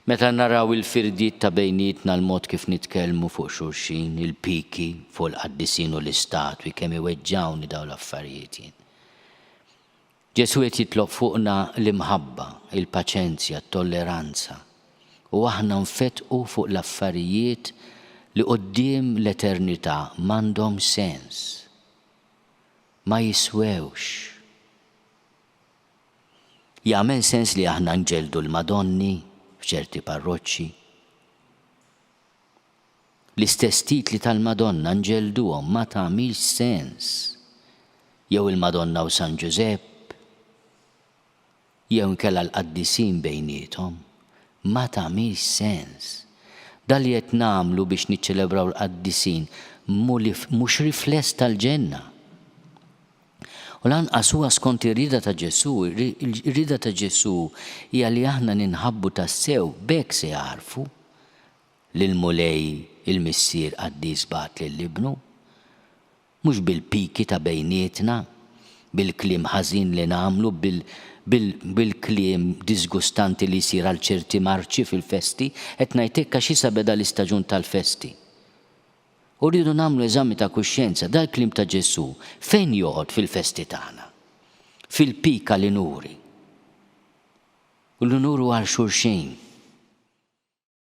Meta naraw il-firdiet ta' bejnietna, l-mod kif nitkellmu fuq xulxin, il-piki fuq il-qaddisin u l-istatwi, kemm iweġġgħuni dawn l-affarijiet jien. Ġesù qed jitlob fuqna l-imħabba, il-paċenzja, t-tolleranza, u aħna nfettqu fuq l-affarijiet li quddiem l-eternità m'għandhom sens. Ma jiswewx. Jagħmel sens li aħna nġelldu l-Madonni f'ċerti parroċċi? L-istess titli tal-Madonna nġellduhom ma tagħmilx sens. Jew il-Madonna u San Ġużepp? Jew inkella l-qaddisin bejniethom? Ma tagħmilx sens. Dan li qed nagħmlu biex niċċelebraw l-qaddisin mhux rifless tal-ġenna. U lanqas huwa skont ir-rieda ta' Ġesù, ir-rieda ta' Ġesù hija li aħna ninħabbu tassew, b'hekk se jagħrfu li l-Mulej il-Missier qaddis bagħat lil Ibnu. Mhux bil-piki ta' bejnietna, bil-kliem ħażin li nagħmlu, bil-kliem diżgustanti li jsir għal ċerti marċi fil-festi, qed ngħid hekk għax issa beda l-istaġun tal-festi. U rridu nagħmlu eżami ta' kuxjenza, dal-kliem ta' Ġesù fejn joqgħod fil-festi tagħna? Fil-pik għal inuri. U l-unur hu għal xulxin.